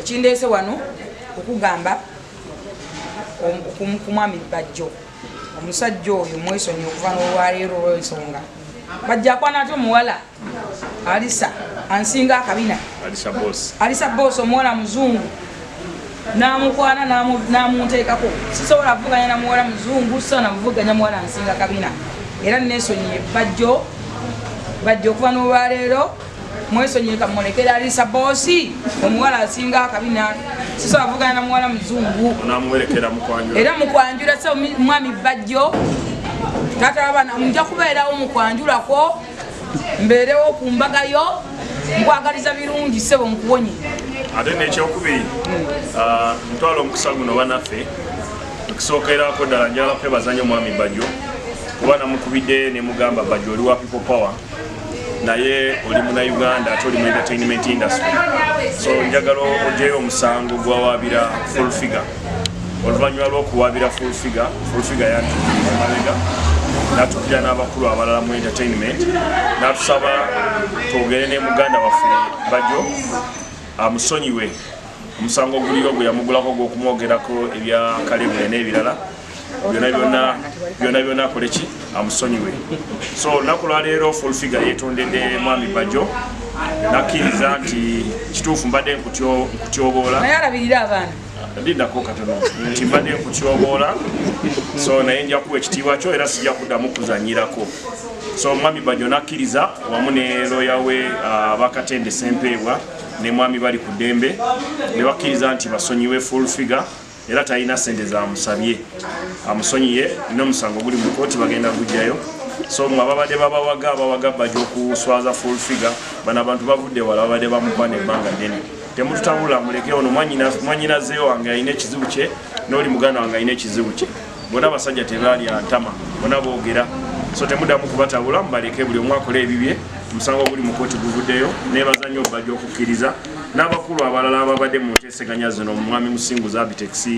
ekindeese wano okugamba ku mwami bajjo omusajja oyo mwesonyi okuva nolwaleero olwensonga bajja akwana ati omuwala alisa ansinga akabina alisa boosi omuwala muzungu namukwana namunteekako sisobola avuganya namuwala muzungu sisobola namuvuganya muwala ansinga kabina era nesonyi bajjo bajja okuva nolwaleero mwesonyiwe kamulekera alisa bosi omuwala asinga akabina siso avugana na muwala muzungu era mukwanjula so mwami bajjo tata wabana nja kubeerawo mukwanjulako mbeerewo ku mbaga yo nkwagaliza birungi sebo nkuwonye ate nekyokubiri ah, ntwala omukisa guno banaffe okusookerako ddala njala kwebaza nyo mwami bajjo kuba namukubidde nemugamba bajjo oli wa people power naye oli muna uganda ate oli mu entertainment industry so njagala ojeyo omusango gwawabira full figure oluvanyuma lwokuwabira full figure full figure yantumalega natukira n'abakulu abalala mu entertainment natusaba twogere ne muganda waffe bajo amusonyiwe omusango oguliyo gwe yamugulako gwokumwogerako ebya kalebule n'ebirala byona byona byona byona akoleki amusonyiwe so olunaku lwaleero full figure yetondedde mwami bajo nakkiriza nti kituufu mbadde nkutyoboola lindako katono nti mbadde nkutyoboola so naye nja kuwa ekitiibwa kyo era sijja kuddamu kuzanyirako so mwami bajo nakkiriza wamu ne loya we uh, bakatende sempeebwa ne mwami bali ku ddembe ne bakkiriza nti basonyiwe full figure era talina sente zamusabye amusonyiye nomusango guli mukoti bagenda kujjayo so mwe ababadde babawaga abawaga baja okuswaza full figure bana abantu bavudde wala babadde bamukwana ebbanga ddene temututabula muleke ono mwanyinazeyo wange alina ekizibu kye noli muganda wange alina ekizibu kye bona abasajja tebaali antama bona boogera so temudamu kubatabula mubaleke buli omu akole ebibye omusango oguli mu kooti guvuddeyo nebaza nnyo bajja okukkiriza n'abakulu abalala ababadde mu seganya zino mwami musinguzi abitex uh,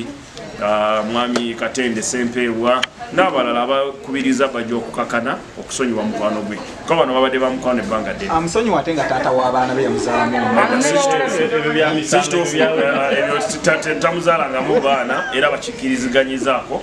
mwami katende sempeebwa n'abalala abakubiriza bajja okukakana okusonyiwa mukwano gwe kuba bano babadde ba mukwano ebbanga ddenamusonyiwa ate nga taata w'abaana be yamuzaalamuekituufu uh, tamuzalangamu baana era bakikiriziganyizaako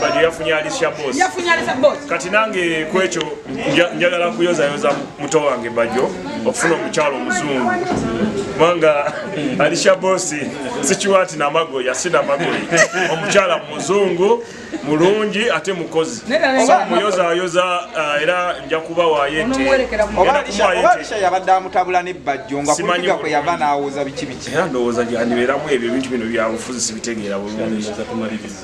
Badi yafunye Alicia Boss. Yafunye Alicia Boss. Kati nange kwecho njagala kuyoza yoza muto wange bajo okufuna omukyalo muzungu. Mwanga Alicia Boss sikiwati na mago ya sina mago. Omukyala muzungu mulungi ate mukozi. Oba muyoza yoza uh, era nja kuba wa yete. Oba Alicia oba Alicia yabadde amutabula ne bajo nga kuliga kwe yava na awoza bichi bichi. Era ndowoza jani beramu ebyo bintu bino bya bufuzi sibitegeera bulungi.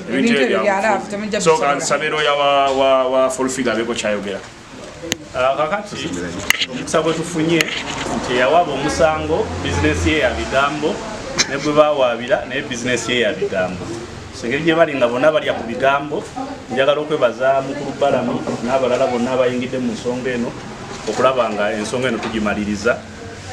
ebintu ebyo byangu so kansabe looya wa fulfiga abeeko kyayogera ah, kakati omukisa gwe tufunye nti eyawaaba omusango bizinesi ye ya bigambo ne gwe bawaabira naye bizinesi ye ya bigambo engeri gye bali nga bonna balya ku bigambo njagala okwebaza mukulu balamu n'abalala bonna abayingidde mu nsonga eno okulaba nga ensonga eno tugimaliriza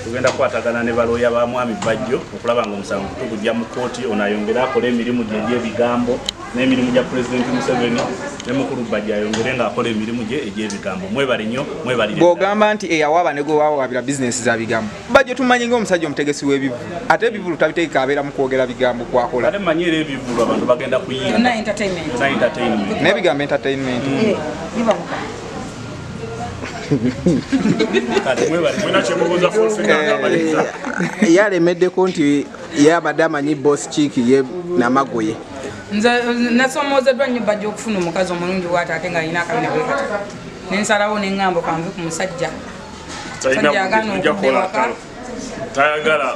tugenda kukwatagana ne balooya ba mwami bajjo okulaba nga omusango tugujja mu kkooti ono ayongere akole emirimu gye egy'ebigambo n'emirimu gya pulezidenti museveni ne mukulu bajjo ayongere ng'akola emirimu gye egy'ebigambo mwebale nnyo mwebalire bw'ogamba nti eyawaaba ne gwe wawaabira bizinensi za bigambo bajjo tumanyi ng'omusajja omutegesi w'ebivulu ate ebivulu tabitegeka abeera mu kwogera bigambo kwakola ate manyi era ebivulu abantu bagenda kuyinda n'ebigambo entertainment mm. eh, Eh, yalemeddeko nti yabadde amanyi bos kiiki ye namagoye nze nasomoozeddwa nnyo bajja okufuna omukazi omulungi waate ate nga alina akabina bwekati nensalawo nengambo kanve ku musajja tayagala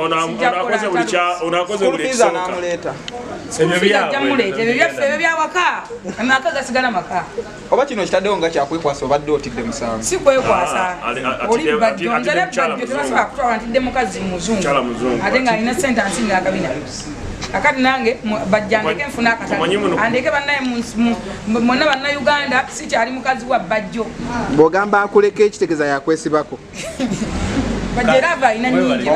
onakoze buli kya onakoze buli kisoka ebyo byawaka amaka gasigala maka oba kino kitaddewo nga kyakwekwasa obadde otidde musango si kwekwasa ah, ah, ah, oli bbajjo nze ne bbajjo tebasobola kutwala ntidde mukazi muzungu ate nga alina sente ansinga akabina akati nange bajja ndeke nfuna akatale andeke banaye mwonna bannayuganda sikyali mukazi wa bajjo bwogamba akuleka ekitegeza yakwesibako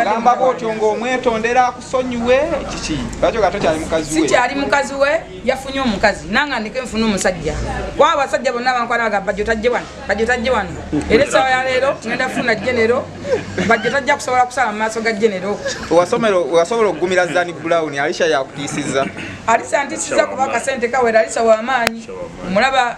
ogamba bwotyo ngaomwetondera akusonyiwe kiki lwaki oga tokyali mukazi we sikyali mukazi we yafunye omukazi nanga ndeke nfuna omusajja kuba abasajja bonna bankwana baga bajjo tajje wano bajjo tajje wano era esawa ya leero ngenda funa genero bajjo tajja kusobola kusala mu maaso ga genero wasobola okugumira zani brown alisha yakutiisiza alisa ntisiza kuba akasente kawera alisa wamaanyi omulaba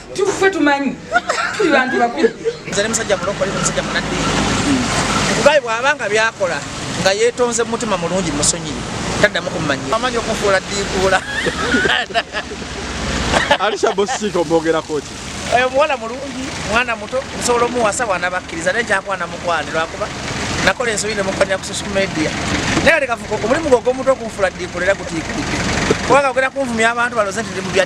tuffe tumanyi tuli bantu bakulu nze ne musajja mulokole musajja munadde kugaye bwaba nga byakola nga yetonze mumutima mulungi musonyiyi taddamu kumumanyira amanyi okufuula ddiikuula alisha bosika omwogerako ki oyo muwala mulungi mwana muto nsobola omuwasa bwana bakkiriza naye kyakwana mukwani lwakuba nakola ensobi nemukwanya ku social media naye lekafuka omulimu gwe ogwomuntu okunfula ddiikuula era gutiikudde kubanga ogenda kunvumya abantu baloze nti ndi mu bya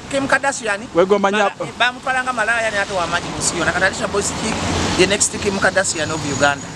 Kim Kardashian wegomba nya bamutwala nga malaya ne ate wamaji musiyo nakatalisha boys ki the next Kim Kardashian of Uganda